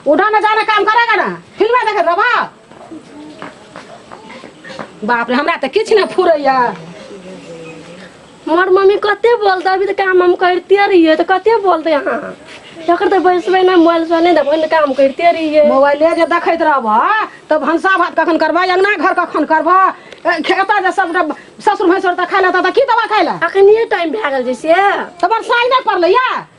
उठा ना जाना काम करेगा ना फिल्म देखे रबा बाप रे हमरा तऽ किछु नहि फुरैया हमर मम्मी कते बोलते अभी तऽ काम हम करते रहिए तऽ कते बोलते अहाँ जकर तऽ बैसबै नहि मोबाइल से नहि देबै ने काम करते रहिए मोबाइले जे देखैत रहबह तऽ भनसा भात कखन करबह अङ्गना घर कखन करबह ए, खेता जे सब ससुर भैंसुर तऽ खाइ लए तऽ की दवा खाइ लए अखनिए टाइम भए गेल जैसे तऽ बरसाइ नहि पड़लैया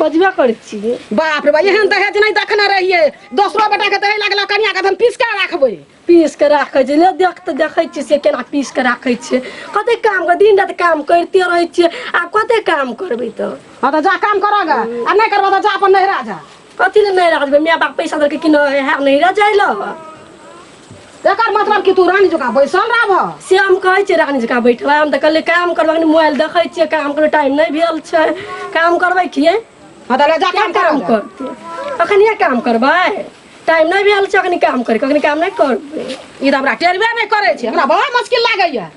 बजबे करै छियै बाप रे बा एहन दहेज नहि देखने रहियै दोसरो बेटा के दहेज लागल कनिया के हम पीस के राखबै पीस के राखै छै ले देख तऽ देखै छियै से केना पीस के राखै छियै कते काम कर दिन रात काम करिते रहै छियै आब कते काम करबै तऽ हँ तऽ जा काम करऽ गे आ नहि करबऽ तऽ जा अपन नहिरा जा कथी लए नहि राखबै माय बाप पैसा देलकै कि नहि है नहिरा जाइ लऽ एकर मतलब कि तू रानी जकाँ बैसल रहबह से हम कहै छियै रानी जकाँ बैठबै हम तऽ कहलियै काम करबै कनि मोबाइल देखै छियै काम करबै टाइम नहि भेल छै काम करबै किए हँ तऽ लए जा किए काम कर काम करतै अखनिए काम करबै टाइम नहि भेल छै अखनी काम करैके अखनी काम नहि करबै ई तऽ हमरा टेरबे नहि करै छै हमरा बड़ा मुश्किल लागैए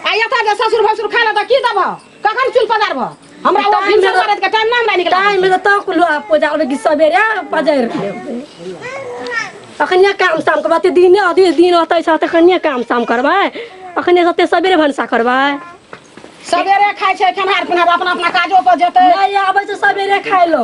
आ एतऽ जे ससुर भसुर खाय लए तऽ की देबह कखन चुल पदार भऽ हमरा ओ भिनसर करत के टाइम ना हमरा निकल टाइम में तो कुलो आप पूजा और की सवेरे पजर अखनिया काम शाम करबा ते दिन अभी दिन होते छ त अखनिया काम शाम करबा अखनिया सते सवेरे भनसा करबा सवेरे खाइ छै खेनहार पिनहार अपना अपना काजो पर जेतै नहीं आबै छ सवेरे खाइ लो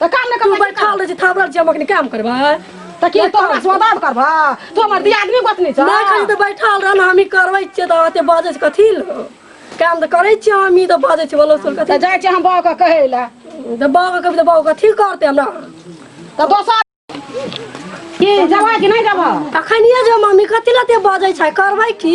तऽ काम नहि तू करबै बैठल रहे छी थाबरल छी हम अखनी काम करबै तऽ की तो हमरा स्वादाब करबा तू हमर दियादनी गोतनी छ नहि खाली तऽ बैठल रह ने हमही करबै छियै तऽ अते बाजै छै कथी लऽ काम तऽ करै छियै हमही तऽ बाजै छियै बोलो सुन कथी तऽ जाइ छी हम बाबा के कहै लए तऽ बाबा कभी तऽ बाबा कथी करतै हमरा तऽ दोसर की जबा कि नहि जबा अखनिए जे मम्मी कथी लऽ एते बाजै छै करबै की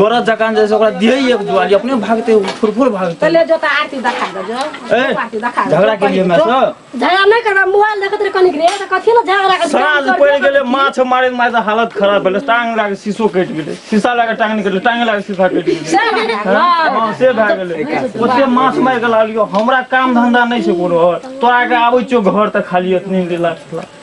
बरद जकान जैसे ओकरा दिए एक दुआली अपने भागते उ फुर फुर भागते पहले जो तो आरती दिखा दो जो ए, आरती दिखा दो। झगड़ा के लिए मैं तो झगड़ा नहीं करबा मोबाइल देखत रहे कनिक रे तो कथी ला झगड़ा के साँझ पड़ि गेलै माछ मारैत मारैत हालत खराब भेलै टाँग लगा कऽ शीशो कटि गेलै शीशा लगा कऽ टाँग निकललै टाँगे लगा कऽ शीशा कटि गेलै से बात है। हँ से भए गेलै ओते माछ मारि कऽ लालियो हमरा काम धंधा नहि छै कोनो आओर तोरा के आबै छियौ घर तऽ खाली एतनी लास्ट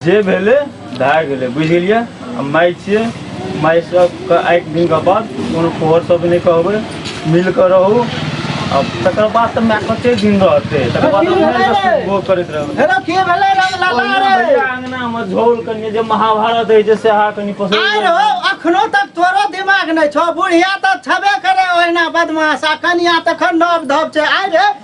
जे भेलै भए गेलै बुझि गेलियै हम माइ छियै माइ सबके आइ दिनके बाद कोनो फोहर सब नहि कहबै मिल कऽ रहू आ तकर बाद तऽ माय कते दिन रहतै तकर बाद हम नहि तऽ सुनबो करैत रहबै हेलो की भेलै रंग लगा ओहिना रे भैया अंगना मे झोल कनि जे महाभारत होइ छै सेहा कनि पसंद आइ रहो अखनो तक तोरो दिमाग नहि छौ बुढ़िया तऽ छबे करे ओहिना बदमाश आ कनिया तखन नब धब छै आइ रे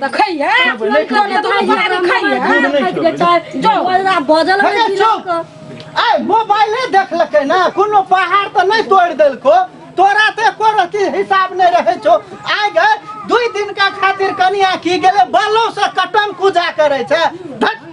तऽ खैहे खेबै, नहि खेबै। तोरे दुनू भाय भाय खैहे खाना खाइत के चाहे जो बजरा बजल अरे रहै चुप। तिलक के। आय मोबाइले देखलकै ना कोनो पहाड़ तऽ नहि तोड़ि देलको तोरा तऽ एको रति हिसाब नहि रहै छौ आय गे दुई दिनका खातिर कनिया की गेलै बालोसँ कटन पूजा करै छै धट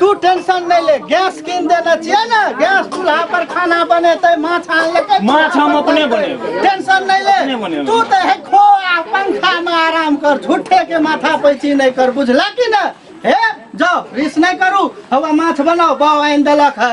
तू टेंशन नहि ले गैस कीन देने छियै ने गैस चूल्हा पर खाना बनेतै माछ आन लेतै माछ हम अपने बनेबै टेंशन नहि अपने ले बनेबै। तू तऽ हे खो आ पंखा में आराम कर झूठे के माथा पैची नहि कर बुझला कि ने हे जाओ रिस नहि करू हवा माछ बनाओ बाव आनि देलक है